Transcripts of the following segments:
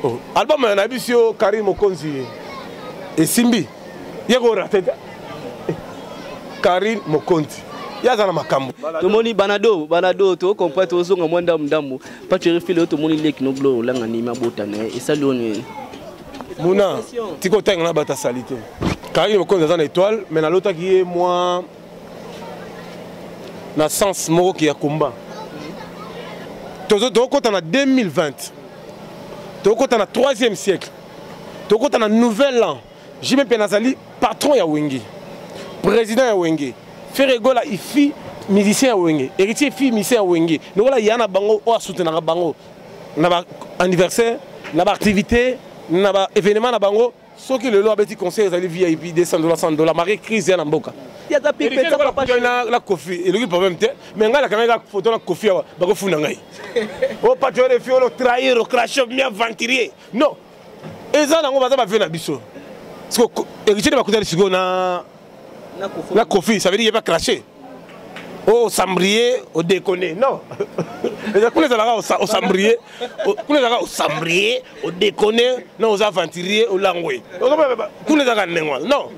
oh, album ya na biso yo carine mokonzi esimbi ye korate te carine mokonzi ye aza na makambo tomoni banado banado tokopre tozonga mwa ndambu ndambu paceri file oyo tomoni leki no glore olanga nimi abota na ye esali oyo nini muna tikotanga na bato asali te carine mokonzi aza na étoile mai nalotaki ye mwa na sens moko ki ya combat tokokota na 2020 tokokota na 3e siècle tokokota na nouvel an jime mpe nazali patron ya wenge président ya wenge ferre gola ifi musicien ya wenge héritier ifi musicien ya wenge lokola ya na bango oyo asoutenaka bango na baanniversaire na baactivité na baévénement na bango soki lelo abeti conseil ezali vip 200 dola 100 dola mari crise ya na mboka na kofi eloki problème te mais ngai nakangaki kaka foto na kofi awa bakofunda ngai o oh, patron de fiolo trahir ocracho mi aventurier non eza nango baza bavio na biso héritier de bakutani sikoyo na na kofi ça veut dire yeba cracher oh sambrier au déconner non kuna ezalaka au sambrier kuna ezalaka au sambrier au déconner non aux aventuriers au langwe kuna ezalaka ndenge wana non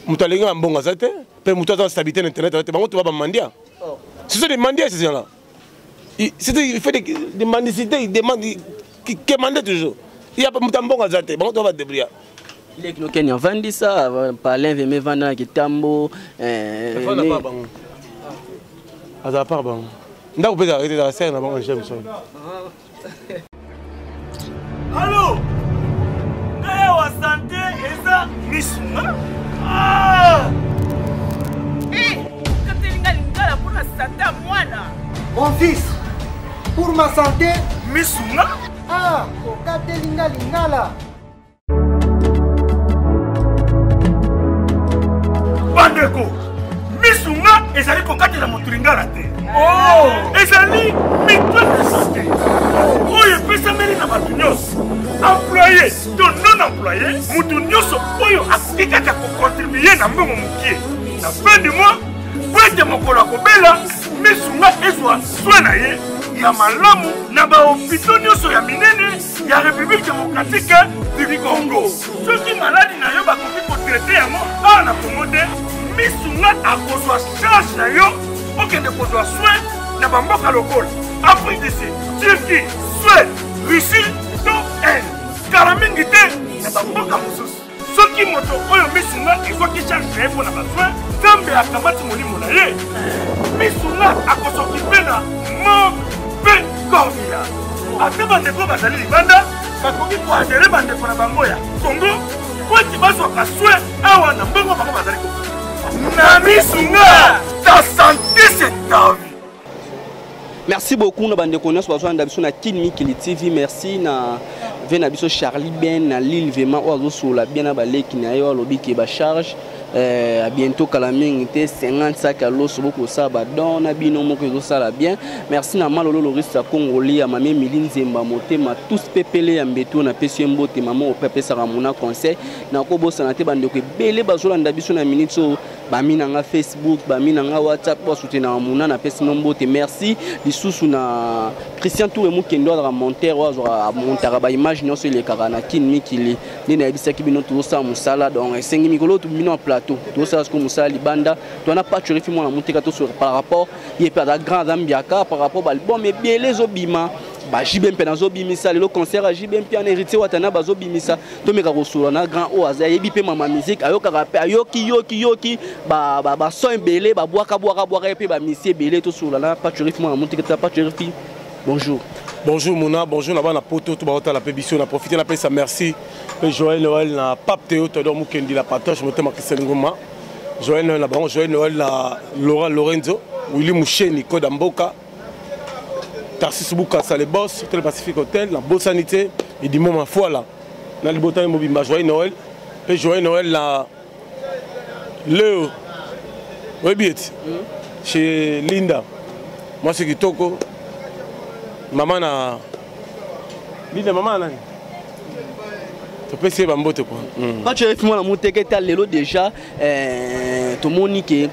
moto alingi na mbongo aza te mpe moto aza na stabilité na internet aza te bango to ba bamandia oh. ce sont des mandias ces gens là c'était il fait des, des mendicités il demande qui demandait toujours il y a pas muta mbongo aza te bango to ba débrouiller leki no kenya vandi sa palin veme vanda na kitambo eh, azala par bango ndako mpe ezalaka te ezalaka sere na bango na jameson Allô Naya wa santé eza Miss Ah Eh, katelinga lingala pona sata mwana. Mon fils, pour ma santé, Miss Ah, okatelinga lingala. bandeko misu nga ezali kokatela moto lingala te oh! ezali mito ya sante oyo epesameli na bato nyonso employe to non employe moto nyonso oyo akoki kaka kokontribue na mbongo mokie na fin du mois po ete mokolo akobela misu nga ezwa swe na ye ya malamu na bahopito nyonso ya minene ya république démocratique du congo soki maladi na yo bakoki kotraite yango awa na congo te misu nga akozwa charge na yo okende kozwa soin na bamboka lokola afrique du sud turquie suède russie to inde kala mingi te na bamboka mosusu soki moto oyo misu nga ezwaki charge na ye mpo na basoin nzambe akamati molimo na ye misu nga akosokipe na mort mpe cornila ata bandeko bazali libanda bakoki koadere bandeko na bango ya kongo mpo ete bazwaka soin awa na mbongo bango bazali ko na misu nga ta sante se tavi merci beaucoup na bandeko nyonso bazolanda biso na kin mikili tv merci na ve na biso charlie ben na lille vraiment oyo azosolola bien na baleki na ye oyo alobi ke bacharge eh, a bientôt kala mingi te 50 sak ya loso bokosala badon na bino moko ezosala bien merci na malolo lorisa congoli ya mami emili nzemba motema tous pepele ya mbetu napesi ye mbote mama ope apesaka mona conseil nakobosana te bandeko ebele bazolanda biso na minute oyo bami na nga facebook bami na nga whatsapp po asutenaka muna napesi no mbote merci lisusu na christian toure mokendo azalaka montere oyo azwaka amontaka baimage nyonso elekaka na kin mikili nde nayebisaki bino tozosala mosala donc esengi mikolo oyo bino ya plateau tozosala sikoyo mosala libanda to wana pacho refi mwana moteka tosoka par rapport ye mpe aza grand aza mbiaka par rapport baalbum ebele ezobima ba JB mpe nazobimisa lelo concert ya JB mpe an héritier watana bazobimisa tomeka kosolola na grand oyo aza ayebi mpe mama musique ayokaka mpe ayoki yoki yoki bason ebele babwaka bwaka bwaka ye mpe bamisi ebele tosolola na patrifi mwana motiketa patrifi bonjour bonjour mona bonjour na bana poto to baotala mpe biso na profite napesa merci mpe joel noel na pape teo todor mokendi la patoche motema christian ngoma joel noel na bango joel noel na laurent lorenzo willi musheni koda mboka tarsis bukasa le boss hotel pacifique hotel na bosani te edimo mafuala na libota ye mobimba joyeux noël mpe joyeux noël na leo oyebi ete chez linda mwasi kitoko mama na linda mama na nani topesi ye bambote kua mm. match eyefi mwana moteke ta lelo déjà eh, tomoni ke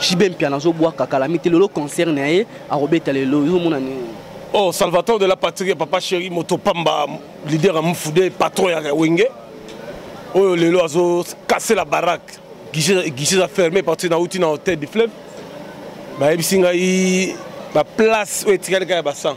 jibe mpiana azobwaka kalami te lelo concert na ye akobeta lelo ezomona nini oh salvatore de la patrie ya papa chéri moto pamba leader ya mufude patron ya wenge oyo oh, lelo azokase la barake guichet eza ferme partir nauti na hotel du fleuve bayebisi ngai baplace oyo etikali kaka ya basan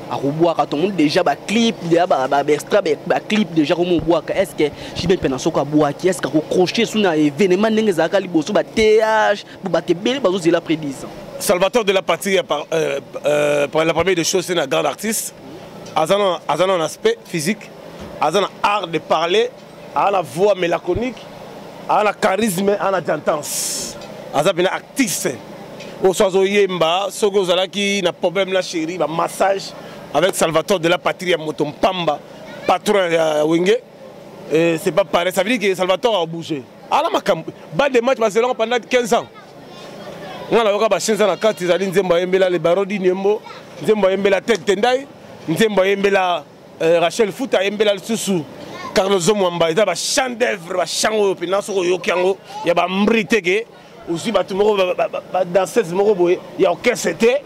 akobwaka tomoni déjà baclip deja baextra baclip déjà komi obwaka est ce que jibe mpena soko abwaki est ce que akocroche su na événement ndenge ezalaka liboso ba th po bato ebele bazozela après 10 ans salvatore de la patrie euh, par, euh, euh, par la première des choses c'est un grand artiste aza na aspect physique aza na art de parler aza na voix mélaconique aza na charisme aza na dentance aza mpena actrice oyo so azoyemba soki ozalaki na problème na chéri bamassage avec salvatore de la patrie ya moto mpamba patron ya wenge eh, c'est pas pareil ça veut dire que salvatore abouge ala makambo ba de match bazelaka pendant 15 ans nga nayoka bashenza na kati ezali nzembo ayembela le baro di niembo nzembo ayembela ted tendai nzembo ayembela Euh, Rachel Futa embela lisusu Carlos Zomwamba eza ba chant d'œuvre ba chant oyo pena soko oyoki yango ya ba mbri te ke ozwi bato moko ba danseuse moko boye ya orchestre te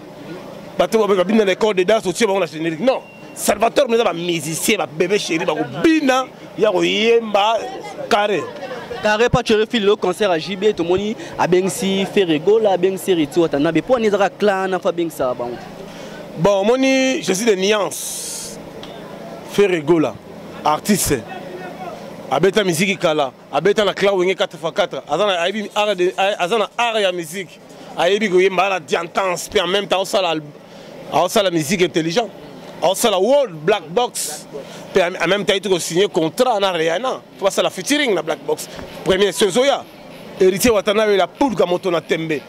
bato babina na école de danse otie bango na générique non salvatore meza ba musicien ba bebe chéri bakobina ya koyemba carré carré pa chere fili lo concert ya jb tomoni abengisi ferregola abengisi retiwata na bepo ani ezaka clan na fa abengisa bango bon omoni je suis de nuance ferre gola artiste abeta miziki kala abeta na cla wenge 4x4 aza na art ya miziki ayebi koyemba na diantance mpe en même temps osala aosala miziki intelligent aosala world black box mpe en même temps ayeti kosigne contrat na riana mpo basala featuring na black box premier sozoya Héritier Watanabe la pulga moto na tembe.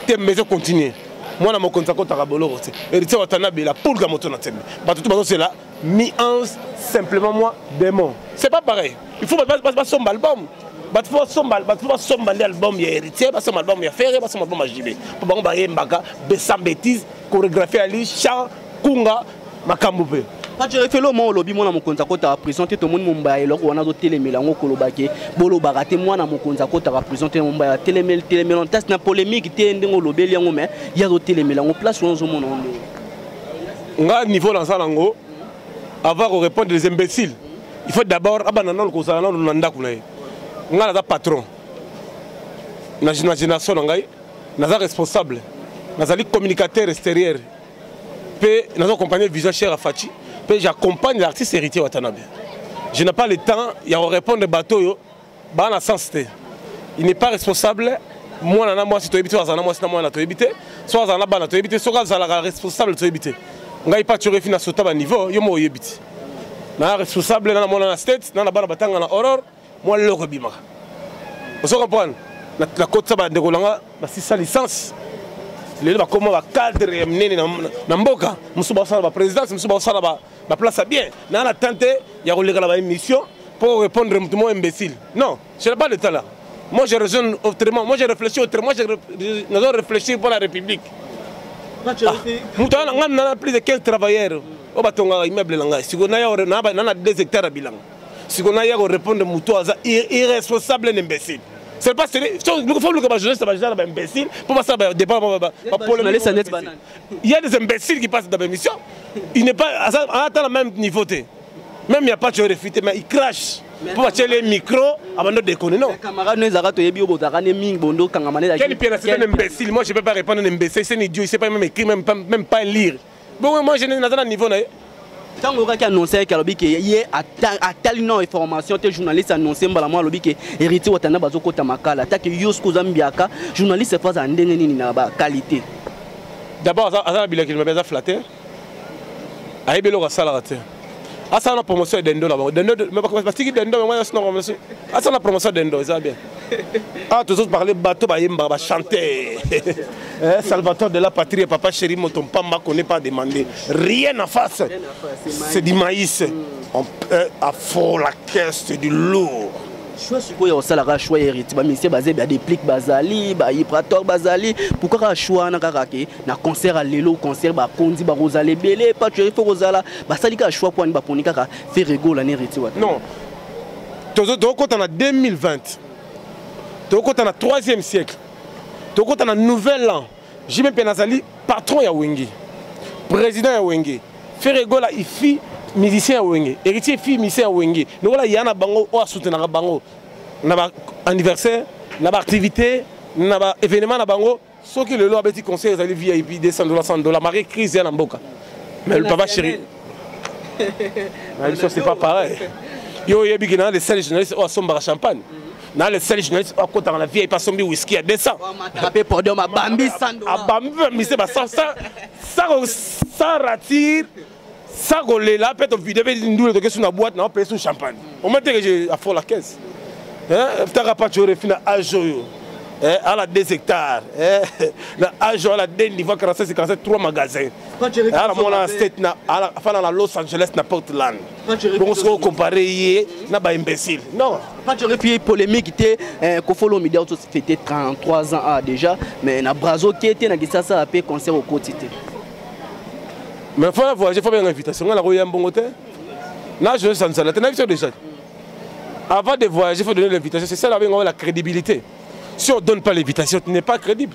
Tembe ezo continuer. Mwana mokonzi akotaka boloko te. Héritier Watanabe la pulga moto na tembe. Bato tout bazo c'est la mi-ans simplement moi démon. C'est pas pareil. Il faut pas son album. bato mpo basomba bato mpo basomba nde album ya héritier basomba album ya ferre basomba album ya jibe mpo bango bayembaka sans bétise chorégraphie ya li chant kunga makambo mpe Patrick Felo mo olobi mwana mokonzi akotaka prison te tomoni Mombaya eloko wana azotelemela yango koloba ke bolobaka te mwana mokonzi akotaka prison te Mombaya atelemeli telemela ntasi na polemique te ndenge olobeli yango me ye azotelemela yango place wana ozomona yango ndenge nga niveau naza nango avant ko répondre les imbéciles il faut d'abord abanda nano kozala nano na ndako na ye nga naza patron na génération na ngai naza responsable nazali communicateur extérieur Pe nazo accompagner vision cher à Fatshi. Pe j'accompagne l'artiste héritier Watanabe. Je n'ai pas le temps ya ko répondre bateau yo. Ba na sens te. Il n'est pas responsable mwana na mwasi toyebi te azala na mwasi na mwana toyebi te so azala na bana toyebi te soki azalaka responsable toyebi te ngai pa tiorefi na sota baniveau yo mo oyebi te na responsable na na mwana na state na na bana batanga na horror mwa loko ebimaka ozo comprendre nakotisa bandeko na nga basisa licence lelo bakoma bacadre ya minene na mboka mosusu bakosala baprésidence mosusu bakosala baplace ya bien naa na temps te ya koleka na baémission mpo répondre moto moko imbécile non je n'ai pas de temps là moi je raisonne autrement moi je réfléchis autrement nazo réfléchir mpo na république ah, moto wana ngai nana plus de 15 travailleurs oyo batongaka immeuble na ngai sikoyo naya na 2 hectare ya bilanga siko na ya ko répondre mutu aza irresponsable na imbécile c'est pas sérieux faut luka ba journaliste ba genre ba imbécile pour passer ba débat ba ba polémique il y a des imbéciles qui passent dans l'émission il n'est pas à la même niveau té même il y a pas de réfuté mais il crache mpo batye le micro abando dekone non camarade no ezalaka toyebi yo bozalaka ne mingi bondo kangama ne quel piana c'est un imbécile moi je peux pas répondre un imbécile c'est un idiot il sait pas même écrire même pas, même pas lire bongo moi je naza na niveau na ye ntango oyokaki annonce yake alobi ke ye atali nao information te journaliste annonce mbala mwa alobi ke héritier watanda bazokɔta makala atake yo soki oza mbiaka journaliste fo azala ndenge nini na baqualité d'abord aza na bilakeli mabe aza flatter ayebi eloko asalaka te asala na promotion ya dendo na bango dendo batiki dendo yango nyonso na promotion asala na promotion ya dendo eza bien awa ah, tozo parle bato bayembaka bachante eh, salvateur de la patrie papa chéri moto mpamba connaît pas demandé rien en face c'est du maïs mm. on, euh, à fort la caisse c'est du lourd choix sikoyo osala kaka choix héritier bamisie baze ba déplique bazali bahiprator bazali pourkui kaka choix wana kaka ke na concert ya lelo concert bakonzi bakozala ebele patue ifo kozala basali kaka choix mpo ani baponi kaka feregola na héritier wata non tokokota na 2020 tokokota na 3e siècle tokokota na nouvel an JB mpe nazali patron ya Wenge, président ya Wenge. Ferre Gola ifi musicien ya Wenge, héritier fi musicien ya Wenge. Lokola ya na bango oyo asoutenaka bango na ba anniversaire, na ba activité, na ba événement na bango. Soki lelo abeti concert ezali VIP 200 dollars, 100 dollars, marqué crise ya na mboka. Mais le papa chéri na biso c'est pas pareil yo oyebi ke na le seul journaliste oyo asombaka champagne na le seul journaliste oyo akotaka na vip asombi whisky ya 200 abambi bamise ba sans ratir sans kolela mpe tovide mpe ndule toke su na boite nao peye su champagne omoi teke je afo la caisse taka paco refi na age oyo ala 2 hectare na age oyo ala 2 niveau 46 47 3 magasin ala mwana state na afana na los angeles na portland bongo soki ocompare ye na baimbécile non epuis polémique te eh, kofolo midi auto fete 33 ans a ah, déjà mais na brazo ke te na kisasa mpe concert okoti te mais fo na voyage fo benga invitation ngai nakoya mbongo te na joe sansala te na biso déjà avant de voyager faut donner l'invitation c'est ça la benga la crédibilité si on donne pas l'invitation tu n'es pas crédible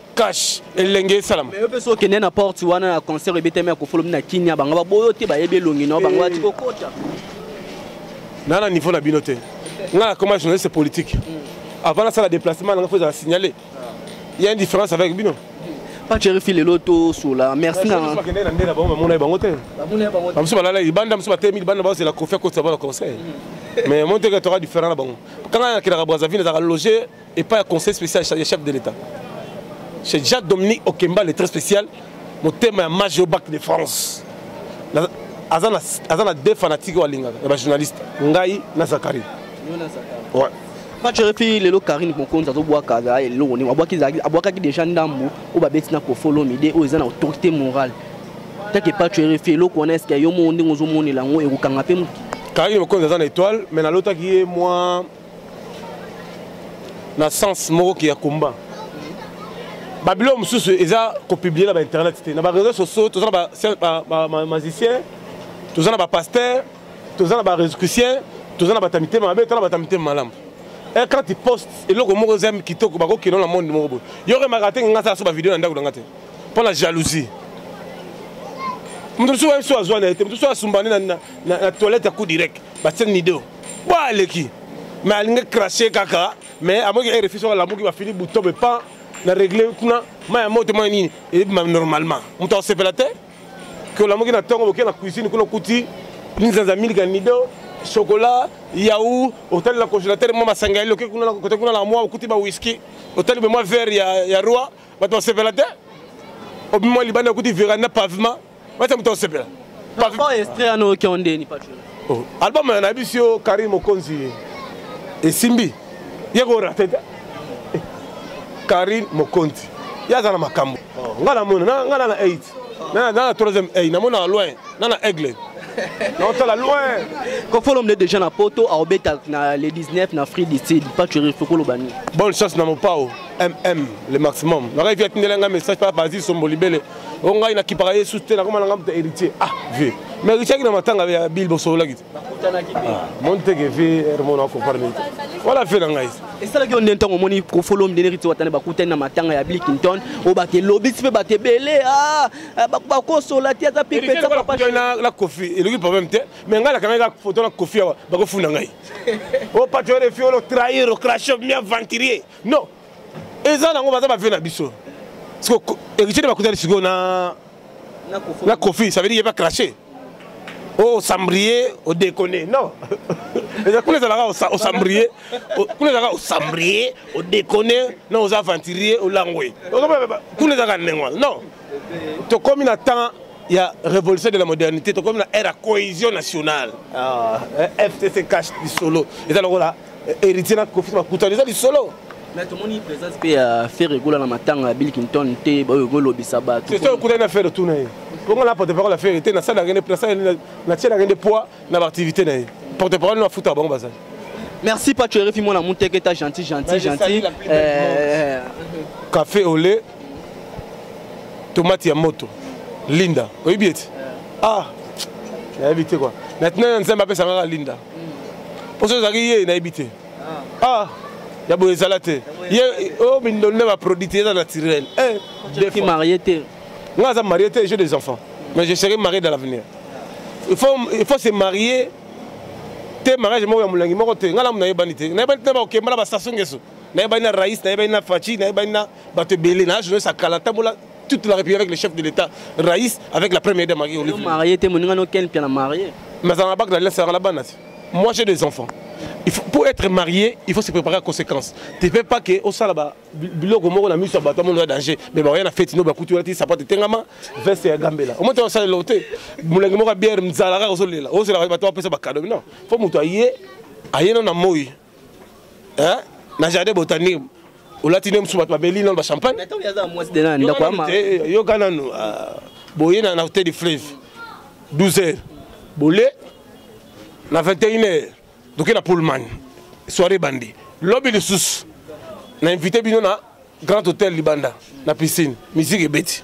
cash elenge esalama yo mpe so okende na porte wana na concert ebetami ya kofolomi na kinia bango baboyo te bayebi elongi nao bango bati kokota na na niveau na bino te nga nakoma journaliste politique mm. avant nasala déplacement nanga fo ezala signalé il y a une différence avec bino pacherifi lelo tosola merci nakende na nde na bango bamona ye bango te bamosusu balala libanda mosusu batemi libanda bazela kofi akotisa bana conseil mm. mais moni teke toka différent na bango kanga nakelaka brazaville ezalaka loger epai ya conseil spécial ya chef de l'état chez jean dominique okemba le très spécial motema ya mage au bac de france aza na, aza na deux fanatiques oyo alingaka ya bajournaliste ngai na zakari ouais. match refi lelo karine mokonzi azobwaka azala eloko ndenge abwakaki déjà ndambo oyo babeti na kofolomide oyo eza na autorité morale take patch refi eloko wana eske yo moko ndenge ozomonela yango ekokanga mpe moki karine mokonzi aza na étoile mais nalotaki ye mwa na sens moko ki ya combat babiloko mosusu eza kopublie na bainternet te na bareseau sociaux toza na bamagicien toza na bapaster toza na barescucien toza na bata mitema mabe toza na bata mitema malamu eh, quand tu poste eloko moko eza kitoko bakokino na monde moko boye yo remaka te ngai asala so bavideo na ndako na ngai te mpo na jalousie moto mosusu wayebi so azwa na ye te moto mosusu asumbani na toilette ya coup direct batie nido bo aleki me alingi crache kaka me amoki rfi soki alamuki bafini buto me pan na regle kuna mai ya moto mai nini ebima normalement moto akosepela te ke olamuki na ntongo boke na cuisine kuna okuti linzanza milika nido chocolat yau otali na congélateur mwa masanga yali oke kuna kote kuna na mwa okuti ba whisky otali bemwa verre ya, ya roi bato basepela te obimwa libanda okuti veranda pavement basa moto osepela oh, album na biso yo karim mokonzi esimbi ye korate te eh, karim mokonzi ye aza na makambo oh. ngai namona ngai na na 8 na na troisième eye namona loin na na aigle naotala loin kofolom nde déjà na poto aobeta na le 19 na free dicid paturi fokoloba nini bonne chance na mopao mm le maximum nakaifi atindela ngai message pa bazi sombo libele o ngai nakipaka ye susu te nakoma na ngai moto héritier ah vie mais héritier aki na matanga ya bile bosololaki te ah, moni teke vie hermone akoparne te wala fe na ngai esalaki yo nde ntango omoni kofolo mdene héritier watane bakutani na matanga ya bile clinton oyo bato elobisi mpe bato ebele ah, ah, bakosola te aza pipesana kofi eloki problème te mais ngai nakangaki kaka foto na kofi awa bakofunda ngai o oh, patriore fi olo trahir ocrache bien aventurier non eza nango baza bavio na biso siko héritier nde bakutani sikoyo na na kofi ça veut dire ye ba crache o osambrier odekone non kuna ezalaka osambrier kuna ezalaka osambrier odekone na oza aventurier olangwe kuna ezalaka ndenge wana non tokomi na temps ya révolution de la modernité tokomi na ère ya cohésion nationale ah, eh, fcc cache lisolo eza lokola héritier na kofisi bakutani eza lisolo mais tomoni présence mpe ya ferre egola na matanga ya bill clinton te baoyo ekolobisa bato soki okutani na ferre tuna ye bongo na porte parole ya ferre te nasalaki natielaki nde poids na baactivité na ye porte parole no afutaka bango bazali merci pacho erefi mwana muteke ta gentil gentil gentil euh, café au lait tomate ya moto linda oyebi ete ah nayebi te kua maintenant nzambe apesangaka linda mposo ezalaki ye nayebi te ah, ah ya boye ezala te ye oyo oh, mindolo nde baproduit te eza naturel eh, marie te nga aza marie te j'ai des enfants mais je serai marié dans l'avenir il faut, il faut se marier te mariage moko ya molangi moko te nga lamu nayebani te nayebani te bakokemba na basaso ngeso nayebani na rais nayebani na faci nayebani na bato ebele na journaliste akala ntambola toute la république avec le chef de l'état rais avec la première dame marie olive marié te moninga no ken piana marié mais ça n'a pas que la sera la bana moi j'ai des enfants il faut, pour être marié il faut se préparer à conséquence tu peux pas que au salaba biloko moko na miso bato amono ya danger mais baoya na feti no bakuti wana ti sapate etengama veste ya gambela omota osala eloko te molangi moko ya biere mzala kaka ozolela ozela bato bapesa bakado non fo moto aye ayena na moi hein na jardin botanique olati nde mosusu bato babeli nano bachampagne yoka nano ah, boye na hotel du fleuve 12 heures bole na 21 heures doke na pullman soirée bandi lobi lisusu na invité bino na grand hôtel libanda na piscine musique ebeti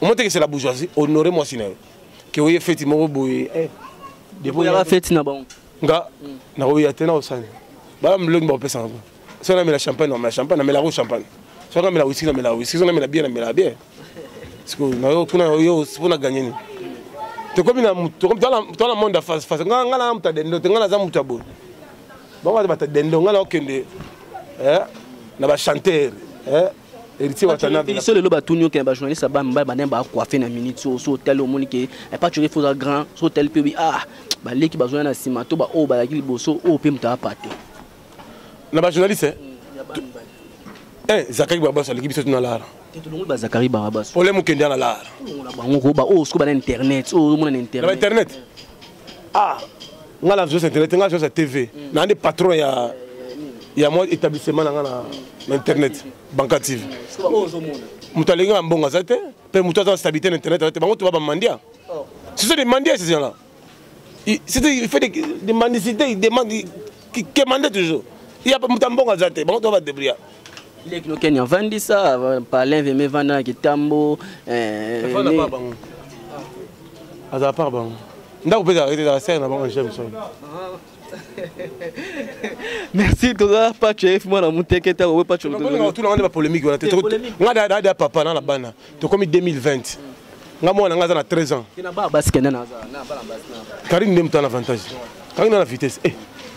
omotekesela bourgeoisie honore mwasi na yo ke oye feti moko boye eh, feti na bango nga nakoya te nakosani bala milongi bakopesa nga soki namela champagne namela champagne namelako champagne soki namela wisi namela wisi soki namela bie namela bie sikoyo nayo kuna yo mpo na ganye nini tokomi na tala monde ya face face nga nga na moto ya dendo te nga naza moto ya boye bango baza bato ya dendo nga naokende eh, na bachantere eh. héritier watanabe biso lelo batuni yo ke ba journaliste ba mibali banani ba coiffe na minute so so otali omoni ke eh, pas toujours faut grand so otali mpe obi ah baleki bazoya na nsima to baoyo oh, balaki liboso oyo oh, mpe moto apate na ba journaliste eh? mm, eh, zakaki babas aleki biso tuna lara tolongoli ba zakari babas ole mokende na lara bango ko ba oyo oh, soki bana internet oyo omona na internet ah nga na vision internet nga vision tv mm. na nde patron ya ya mwa établissement na nga na internet banka tv moto alingi nga mbongo aza te mpe moto aza na stabilité na internet aza te bango toba bamandia oh. ce sont des mandias ces gens là c'était il fait des, des mendicités ils demandent kemande toujours ya moto ya mbongo aza te bango to badebria leki no kenya vandisa palin veme vanda na kitambo eh, azala par bango ndako mpe ezalaka te ezala sere na bango james merci toza pacho efi mwana moteke ntango oyo pacho otuna ngai nde bapolemike wana te ngai dada papa na na bana tokomi 2020 nga mwana na nga aza na 13 ans karine nde moto na avantage karine na vitesse eh,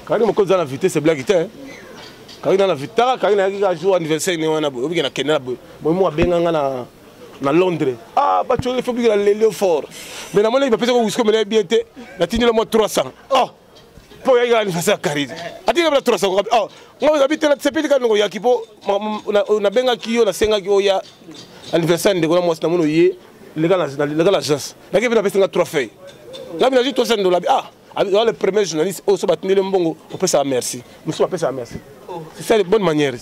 karine moko eza na vitesse blaki te eh. karine na vitesse taka karine ayaki ka jour anniversaire ne wana boye obike na kende na boye boye mo abenga nga na na londres ah bacoli fo bikela lelio fort mais namonaki bapesaka wisko melaye bien te natindela mwa 300 oh mpo oyaki kaka lifaso ya karine atika bila turasa kokabi oh, nga ozabi te nasepeli kaka ndeko yaki mpo nabengaki yo nasengaki oya anniversaire ndeko na mwasi na mono ye leka l'agence nake mpe napesi nga trois feuille nga bina zwi trois cent dola ah oza le premier journaliste oyo so batindeli mbongo opesaka merci mosusu bapesaka merci oh. c'est ça les bonne manière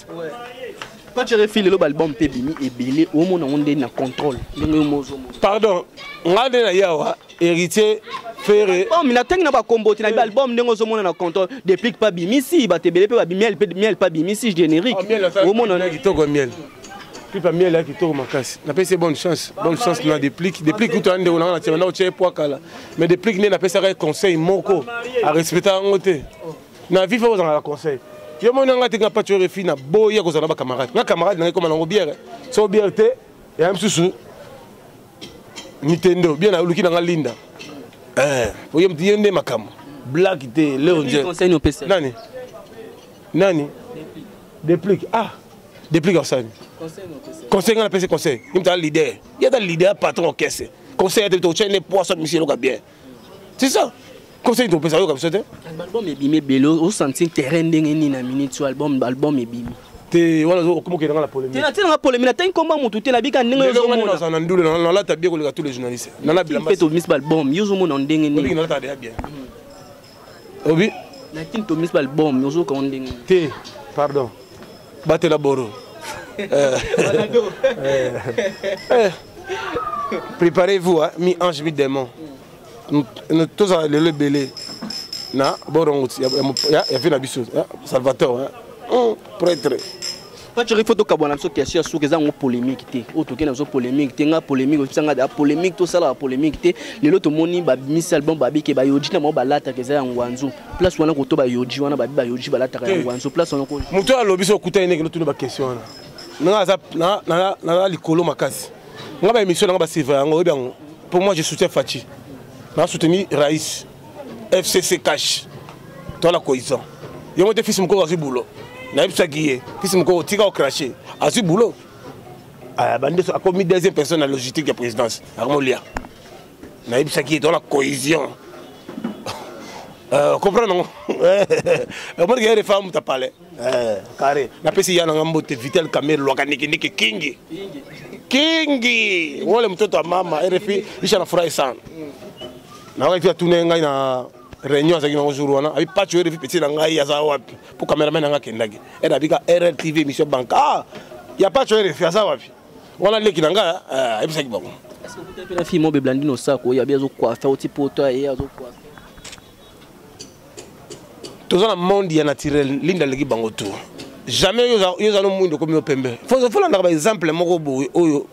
quand tu refi lelo baalbum mpe ebimi ebele omona yango nde na contrôle ndenge yo mozomona pardon nga nde na ye awa héritier ferre album na tangi na ba combo te na ba album ndenge ozo mona na compte déplique pas bimisi ba tebele pe ba miel pe miel pas bimisi générique ah, o mona na kitoko miel pipa miel ya kitoko makasi napesi bonne chance bonne chance na déplique déplique kutu ande ona na tiamana otie poa kala mais déplique nde napesaka conseil moko a respecta yango te na vie fa ozanga na conseil yo moni nanga te nga patio refi na boya kozala na ba camarade nga camarade na ekoma nango bière so bière te ya misusu mitendo bien naluki na nga linda eh, oye mti ye nde makambo black te leo nje nani nani deplique ah deplique asani conseil nga napesi conseil imta leader ye ata leader patron okese conseil ete tokotya ne poisson misi eloka bien c'est ça conseil topesa yoka biso te album ebimi ebele osanti terrain ndenge nini na minute oyo album album ebimi te wana okomokende nga na polemitenatinanga polemi natangi nkomba motu te nabika ndenge ozomona na ndule nalata bie koleka tous les journalistes nalabila mpe tobimisi baalbum yo ozomona ndenge nini obi na kin to mis bal bom ozo ka onde ngi te pardon batela boro euh, euh, euh, préparez-vous hein, mi ange mi démon tozala lelo ebele na borongo ya vie na biso salvatore hein? Hmm, prêtre Patrick faut tokabwana biso question ya suka eza yango polémique te oyo tokei na biso polémique te ngai polémique ozopesa ngai da polémique tosalaka polémique te lelo tomoni babimisi album babike bayoji na bango balataka eza ya ngwanzu place wana koto bayoji wana babi bayoji balataka ya ngwanzu place wana moto oyo alobi so okutani ndenge notuni bakestion wana nanga aza naza likolo makasi ngai baémission nanga baseva yango oyebi yango pour moi je soutien faci naa soutenu raïs fcc cash toala coison yango te fils mokoko azwi boulot nayebisaki ye fils mokoko tika ocrache azwi boulot ah, bande akomi deuxième personne na logistique ya présidence akomolia nayebisaki ye toala cohésion euh, comprendre yango omonike ye refa muta palais Eh, carré. Na pesi yana nga mbote Vital Kamer lwaka niki niki kingi. Kingi. Wole mtoto wa mama RFI isha na furahi sana. Na wakati ya tune ngai na réunion azaki nango jour wana abi pacho RFI petit na ngai aza wapi po cameraman nanga kendaki. Era bika RRTV émission banque. Ah, ya pacho RFI aza wapi? Wana leki na ngai eh ebisaki bango. Est-ce que vous avez fait la fille mobe blandino sako ya bien zo coiffer au type auto et azo coiffer. toza na monde ya naturel linda aleki bango tu jamais yo oza no mwindo okomi yo pembe folandaka baexemple moko boye oyo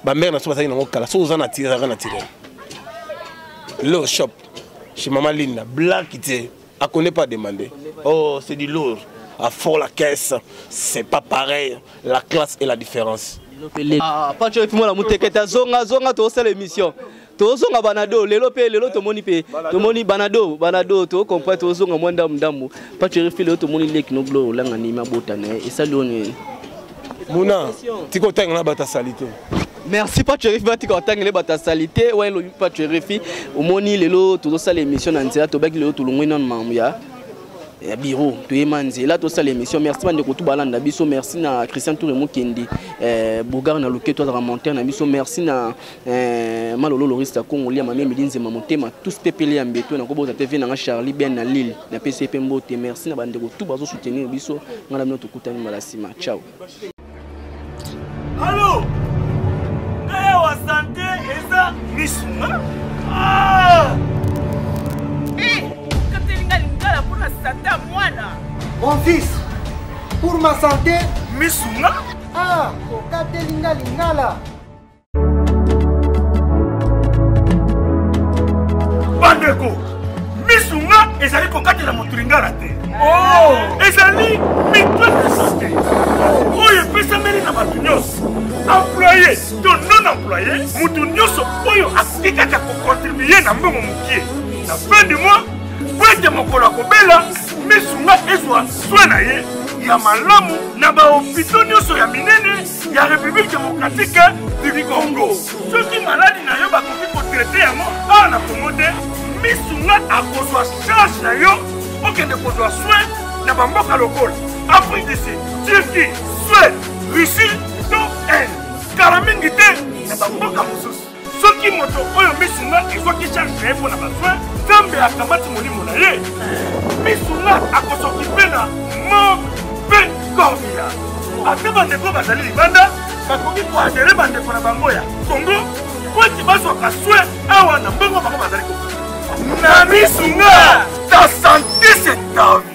bamere na so bazalaki nango kala soki oza natiraka naturel lo shop chez mama linda black te akone pas demande oh c'est du lourd à fort la caisse c'est pas pareil la classe et la différence ah, pacho epi mwana motekete azonga azonga tokosala émission tozonga banado lelo pe lelo tomoni pe tomoni banado banado to comprend tozonga mwa ndamu ndamu pacheri filo tomoni leki no gloire olanga ni mabota na ye esali yo nini muna tika otanga na bata salite merci pacherifi batika otangele bato ya salite wana elobi pacherifi omoni lelo tozosala émission na nzela tobaki lelo tolongwe nano mamu ya ya bureau toyema nzela tosala émission merci bandeko tu balanda biso merci na christian toure mokendi eh, bogar na loketo azalaka monteur na biso merci na Eh, malolo loriste ya congo lia mamie midi nzema motema tous mpe pele ya mbeto nakobota mpe vie nanga charlie ben na lille na pesi ye mpe mbote merci na bandeko tu bazosoutenir biso ngai na bino tokutani mbala nsima ciao alo ngai awa sante eza misuna ah! eh, katelinga lingala mpona sante ya mwana mon fils pour ma sante misuna ah, okatelinga lingala bandeko misu nga ezali kokatela moto lingala te oh! ezali mito esiste oyo epesameli na bato nyonso employe to non employe moto nyonso oyo akoki kaka kokontribue na mbongo mokie na fin du mois po ete mokolo akobela misu nga ezwa swe na ye ya malamu na bahopito nyonso ya minene ya république démocratique du congo soki maladi na yo bakoki kotraite yango awa na congo te misu nga akozwa charge na yo okende kozwa soin na bamboka lokola afrique du sud turquie suède russie to inde kala mingi te na bamboka mosusu soki moto oyo misu nga ezwaki charge na ye mpo na basoin nzambe akamati molimo na ye misu nga akosokipe na mort mpe cornila ata bandeko bazali libanda bakoki koadere bandeko na bango ya kongo mpo ete bazwaka soin awa na mbongo bango bazali kokoki na misu nga ta sante se tavi